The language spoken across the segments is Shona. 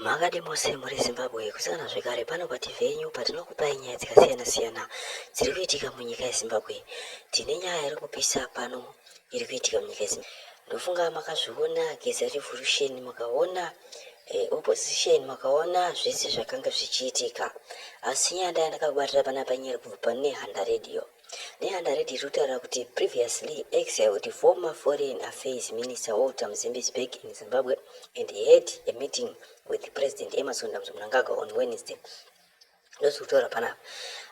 Makadi mose muri Zimbabwe kusana zvekare pano paTV yenyu patinokupai nyaya dzakasiyana siyana dziri kuitika munyika yeZimbabwe. Tine nyaya iri kupisa pano iri kuitika munyika yeZimbabwe. Ndofunga makazviona Geza Revolution, makaona eh, opposition, makaona zvese zvakanga zvichiitika. Asi nyaya ndaya ndakabatira panapa inyaya iri kubva pane Handa Radio. Ndini andaredi tiri kutaura kuti previously ex yayo kuti former foreign affairs minister walter muzimbi is back in zimbabwe and he had a meeting with president emerson damzo munangagwa on wednesday ndozviri kutaura panapa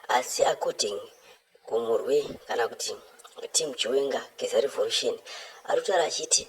asi according kumurwi kana kuti team chiwenga geza revolution ari kutaura achiti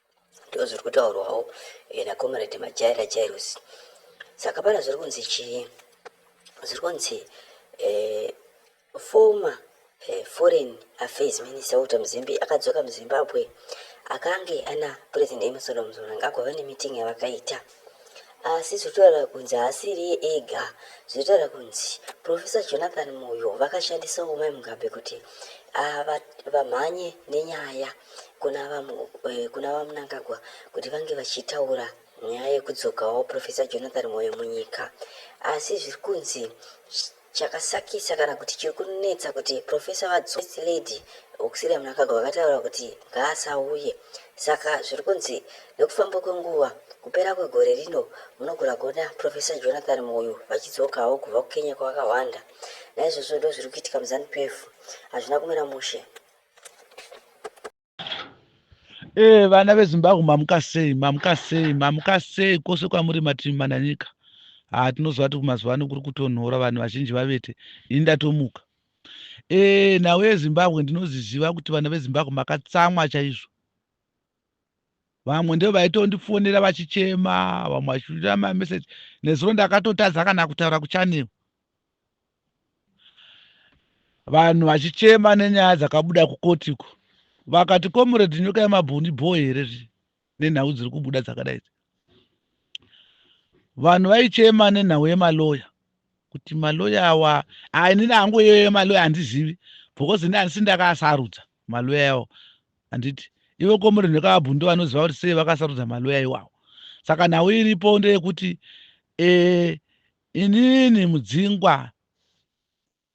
Ndozviri kutaurwawo eh, na comrade majaira jairos saka pana zviri kunzi chii zviri kunzi eh, former eh, foreign affairs minister walter mzimbi akadzoka muzimbabwe akange ana president emerson mnangagwa vane meeting yavakaita Asi zvinotaura kunzi haasiriye ega. Zvinotaura kunzi Professor Jonathan Moyo vakashandisawo Mai Mugabe kuti ah, vamhanye nenyaya kuna eh, VaMnangagwa kuti vange vachitaura nyaya yekudzokawo Professor Jonathan Moyo munyika. Asi zviri kunzi Chakasakisa kana kuti chiri kunetsa kuti Professor Vadzorisi Lady Auxillia Mnangagwa vakataura kuti ngaasauye. Saka zviri kunzi nekufamba kwenguva kupera kwegore rino munogona kuona Professor Jonathan Moyo vachidzokawo kubva kuKenya kwavakahwanda. Naizvozvo ndozviri kuitika muZanu PF. Hazvina kumira mushe. Eh, vana vezimbabwe mamuka sei mamuka sei mamuka sei kwose kwamuri mativi mana nyika haa ah, tinoziva kuti kumazuva ano kuri kutonhora vanhu vazhinji vavete ini ndatomuka e nhau yezimbabwe ndinoziziva kuti vana vezimbabwe makatsamwa chaizvo vamwe ndo vaitondifonera vachichema vamwe vachiita mameseji nezuro ndakatotadza kana kutaura kuchanel vanhu vachichema nenyaya dzakabuda kukoti uko vakati comrade nyoka yemabhuni bho here nenhau dziri kubuda dzakadai idzi vanhu vaichema nenhau yemaloya kuti maloya awa ainini hangu iyoyo yemaloya handizivi because ini handisi ndakasarudza maloya yawo handiti ivo comrade nyoka yemabhuni ndo vanoziva kuti sei vakasarudza maloya iwawo saka nhau iripo ndeyekuti e, Inini mudzingwa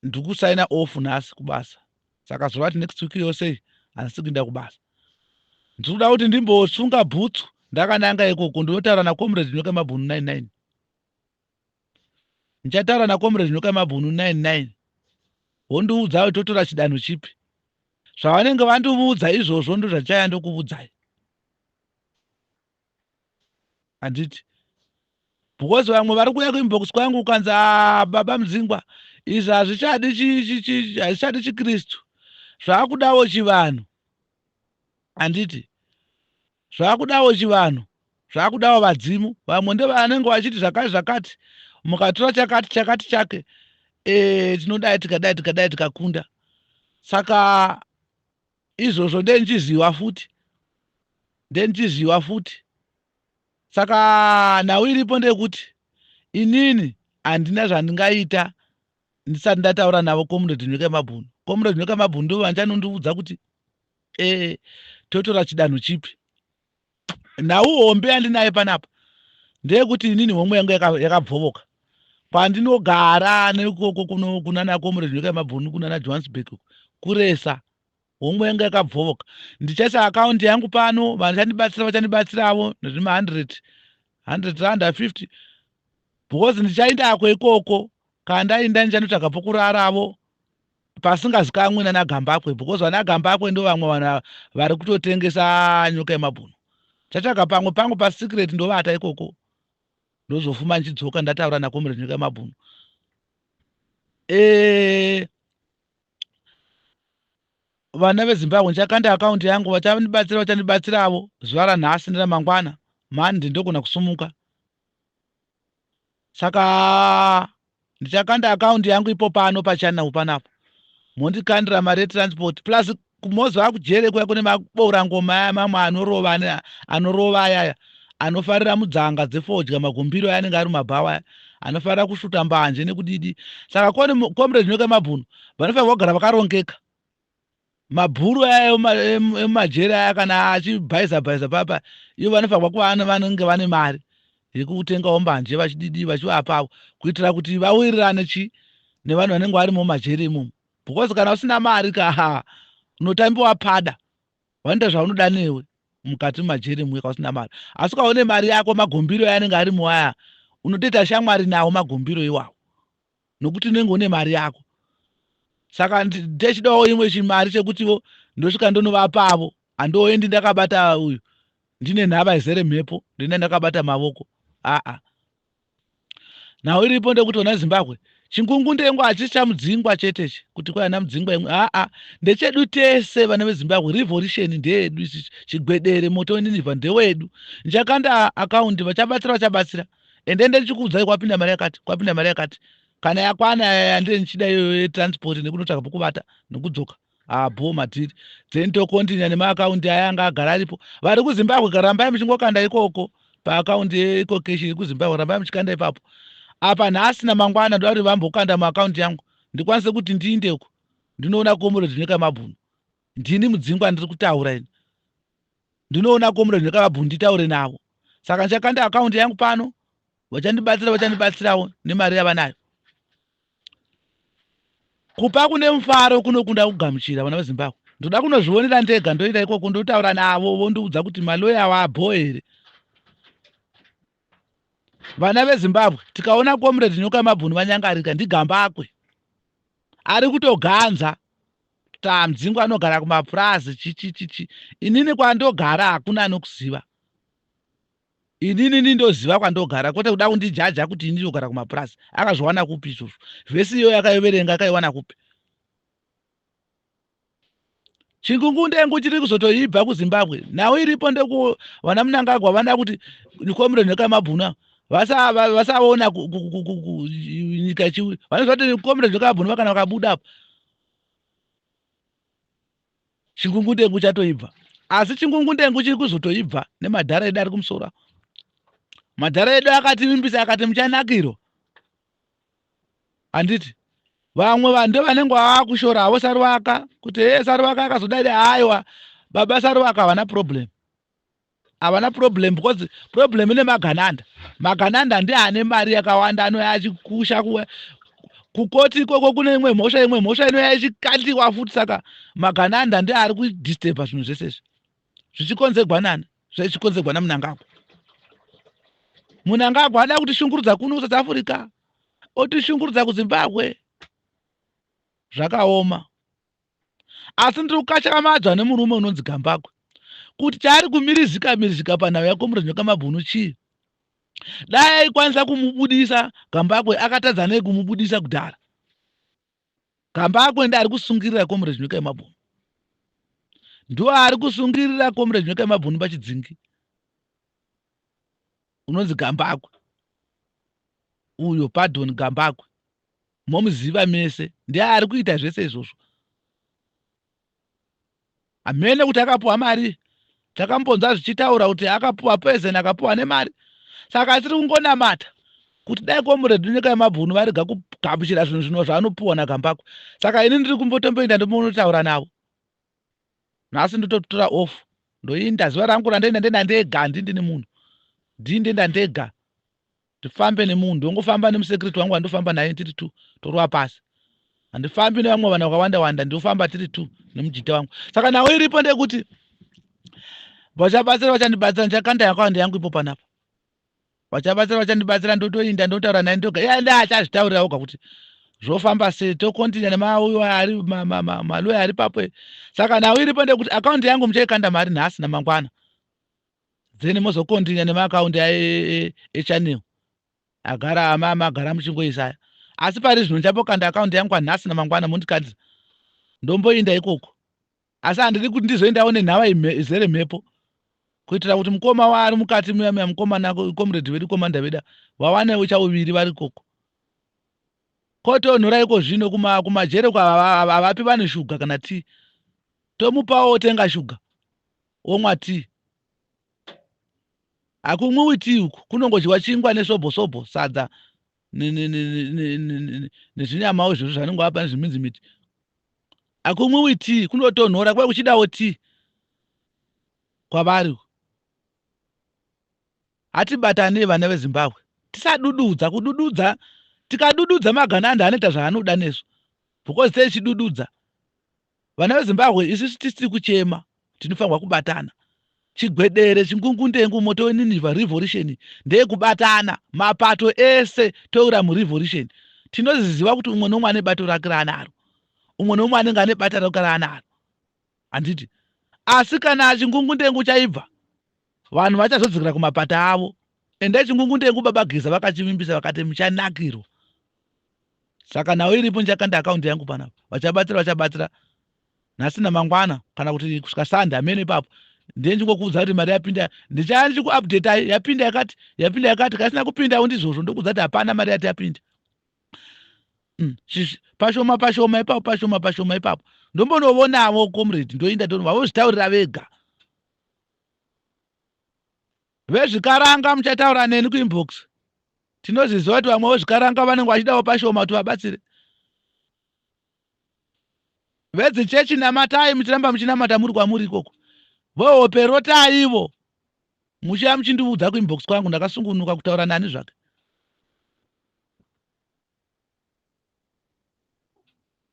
ndiri kusaina off nhasi kubasa saka zvovati next week yose handisi kuinda kubasa ndiri kuda kuti ndimbosunga bhutsu ndakananga ikoko ndinotaura nacomrade nyoka mabhunu 99 ndichataura nacomrade nyoka mabhunu 99 wondiudza kuti totora chidanho chipi zvavanenge vandiudza izvozvo ndozvachaya ndokuvudzai handiti because vamwe vari kuuya kuinbox kwangu ukanzi ah, baba mudzingwa izvi hazvichadi hazvichadi chikristu zvaakudawo chivanhu handiti zvaakudawo chivanhu zvaakudawo vadzimu vamwe ndevanenge vachiti zvakati zvakati mukatora chakati chakati chake e, tinodai tikadai tikadai tikakunda saka Izvozvo ndendichiziva futi. Ndendichiziva futi. Saka nhau iripo ndeyekuti inini handina zvandingaita ndisati ndataura navo Comrade Nyoka Yemabhunu. Comrade Nyoka Yemabhunu ndivo vanichanondiudza kuti eh, totora chidanho chipi. nhau hombe yandinayo panapa ndeyekuti inini homwe yangu yakabvovoka kwandinogara nekoko kuno kunana comrade nyika yemabvuni kunana johannesburg kuresa homwe yangu yakabvovoka ndichaisa akaunti yangu pano vachandibatsira vachandibatsiravo nezvima 100 100 rand 50 because ndichaindako ikoko kandainda ndichanotsvaga pokuraravo pasingazikamwi nana gambakwe because vana gambakwe ndo vamwe vanhu vari kutotengesa nyoka yemabhunu chatsvaga pamwe pangu pasecret ndovata ikoko ndozofuma ndichidzoka ndataura nakomrade nyoka yemabhunu eh, vana vezimbabwe ndichakanda akaunti yangu vachandibatsira vachandibatsiravo zuva ranhasi neramangwana mandi ndogona kusumuka saka ndichakanda akaunti yangu ipo pano pachannel panapa mondikandira mari yetransport plus kumozi vakujere kuya kune maboura ngoma aya mamwe anorova anorova ayaya anofarira mudzanga dzefodya magumbiro aya anenge ari mabhawa aya anofanira kusvuta mbanje nekudidi saka comrade nyoka mabhunu vanofanira kugara vakarongeka mabhuru aya emumajeri aya kana achibhaiza bhaiza papa ivo vanofanirwa kuva vanenge vane mari yekutengawo mbanje vachididii vachivapavo kuitira kuti vawirirane chii nevanhu vanenge varimo mumajeri imomo because kana usina mari kaha unotambiwa pada vanoita zvaunoda newe mukati mumajeri mwe kausina mari asi ukaone mari yako magombiro ayanenge arimo aya unotoita shamwari nawo magombiro iwawo nokuti unenge une mari yako saka ndechidawo imwe chimari chekutivo ndosvika ndonovapavo handioendi ndakabata uyu ndine nhava izere mhepo ndine ndakabata mavoko aa nhau iripo ndekuti ona zimbabwe chingungundengo hachisi chamudzingwa chetechi kuti kwaana mudzingwa imwe aa ndechedu tese vana vezimbabwe revolution ndeyedu chigwedere moto weniniva ndewedu njakanda akaundi vachabatsira vachabatsira and then ndichikuudzai kwapinda mari yakati kwapinda mari yakati kana yakwana yandine ndichida iyoyo yetransport nekunotsvaga pokuvata nekudzoka abho ah, matiri then tokontinya nemaakaundi aya anga agara aripo vari kuzimbabwe karambai muchingokanda ikoko paakaundi yeikokeshi yekuzimbabwe rambai muchikanda ipapo apa nhasi namangwana ndoda kuti vambokanda muakaundi yangu ndikwanise kuti ndiindeko ndinoona komuro dzineka mabhuno ndini mudzingwa ndiri kutaura ini ndinoona comrade ndakavabvunza nditaure navo saka ndichakanda akaunti yangu pano vachandibatsira vachandibatsirawo nemari yavanayo kupa kune mufaro kunokunda kugamuchira vana vezimbabwe ndoda kunozvionera ndega ndoenda ikoko ndotaura navo vondiudza kuti maloya avo abhoe here Vana veZimbabwe tikaona comrade Nyoka Mabhunu vanyangarika ndiGambakwe ari kutoganza tamdzingwa anogara kumapurazi chichichichi inini kwandogara hakuna anokuziva inini nindoziva kwandogara kwete kuda kundijaja kuti ini ndogara kumapurazi akazviwana kupi izvozvo vhesi iyoyo akayoverenga akaiwana kupi chingungundengu chiri kuzotoibva kuzimbabwe nhau iripo ndeku vana munangagwa vanoda kuti komre nhekamabhuna vasaona nyika chiwi vanoziva kuti komre nhekamabhuna vakana vakabuda apo chingungundengu chatoibva asi chingungundengu chiri kuzotoibva nemadhara edu ari kumusora madhara edu akativimbisa akati muchanakirwa handiti vamwe vanhu ndovanenge vavakushora havo saruvaka kuti hee saruvaka akazodai aiwa baba saruvaka havana problem havana problem because problem ine magananda magananda ndiane mari yakawanda anouya achikusha kuwe kukoti ikoko kune imwe mhosva imwe mhosva inouya ichikandiwa futi saka magananda ndiari kudisturba zvinhu zvese izvi zvichikonzegwa nani zvichikonzegwa namunangagwa munangagwa ada kutishungurudza kuno kusouth africa otishungurudza kuzimbabwe zvakaoma asi ndiri kukachamadzwa nemurume unonzi gambakwe kuti chaari kumirizika mirizika panhau yako murinyoka mabhunu chii dai aikwanisa kumubudisa gambakwe akatadza nei kumubudisa kudhara Kamba akuenda ari kusungirira comrade Nyoka Yemabhunu. Ndiwo ari kusungirira comrade Nyoka Yemabhunu pachidzingi. Unonzi Gambakwe. Uyo pardon Gambakwe. Momuziva mese. Ndiye ari kuita zvese izvozvo. amene kuti akapuwa mari takambonzwa zvichitaura kuti akapuwa poison akapuwa nemari saka tiri kungonamata kuti dai komuredhi nyika yemabvunu varega kugamuchira zvinhu zvino zvaanopuwa nagambakwe saka ini ndiri kumbotomboinda ndomonotaura navo nhasi ndototora off ndoinda zuva rangu randoenda ndoenda ndega handindini munhu ndii ndoenda ndega Ndifambe nemunhu ndongofamba nemusecurity wangu wandofamba naye tiri two torova pasi. Handifambi nevamwe vanhu vakawanda wanda ndofamba tiri two nemujita wangu. Saka nhau iripo ndeyekuti vachabatsira vachandibatsira ndichakanda yakawanda yangu ipo panapa. Vachabatsira vachandibatsira ndotoinda ndotaura naye ndoga. Iye ndiye achazvitaurira oga kuti zvofamba sei tokontinha nemauyo ari maloya ari papo saka nhau iripo ndeyekuti akaunti yangu muchaikanda mari nhasi namangwana then mozokontinya nemaakaundi echannel agara amama agara muchingoisaya asi pari zvino ndichambokanda akaundi yangu kwanhasi namangwana mondikadza ndomboinda ikoko asi handidi kuti ndizoendawo nenhava izere mhepo kuitira kuti mukoma waari mukati muya muya mukomana komuredi vedu komanda veda vawanewo chauviri vari koko kotonhora iko zvino kumajere kuma kwavapi vane shuga kana tii tomupawo otenga shuga womwa tii hakumwiwi tii uku kunongodyiwa chingwa nesobho sobho sadza nezvinyamawo izvozvo zvanenge wapa nezviminzi miti hakumwiwi tii kunotonhora kuve kuchidawo tii kwavari hatibatanei vana vezimbabwe tisadududza kudududza tikadududza magananda anoita zvaanoda nesu because teichidududza Vana veZimbabwe isusu tisiri kuchema tinofanirwa kubatana. Chigwedere, Chingungundengu, moto weNineveh, revolution ndeyekubatana mapato ese toura murevolution. Tinoziziva kuti umwe nomwe ane bato rake raanaro. Umwe nomwe anenge ane bata rake raanaro. Handiti? Asi kana chingungundengu chaibva Vanhu vachazodzokera kumapata avo. Endai chingungunde engu baba Geza vakachivimbisa vakati muchanakirwa. Saka nhau iripo ndichakanda akaunti yangu panapa. Vachabatsira vachabatsira nhasi namangwana kana kuti kusvika sande hameno ipapo ndiye ndichingokuudza kuti mari yapinda ndichaya ndichikuupdata yapinda yakati yapinda yakati kaisina kupinda undizvozvo ndokuudza kuti hapana mari yati yapinda mm, pashoma pashoma ipapo pashoma pashoma ipapo ndombonovonavo comrade ndoinda tonova vozvitaurira vega Vezvikaranga muchataura neni kuinbox. Tinoziziva kuti vamwe vezvikaranga vanenge vachidawo pashoma kuti vabatsire. Vedzichechi namatai muchiramba muchinamata muri kwamuri ikoko. Vohoperotai ivo muchiya muchindiudza kuinbox kwangu ndakasungunuka kutaura nani zvake.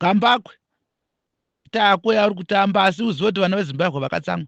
gambakwe takwe auri kutamba asi uzive kuti vana vezimbabwe vakatsamwa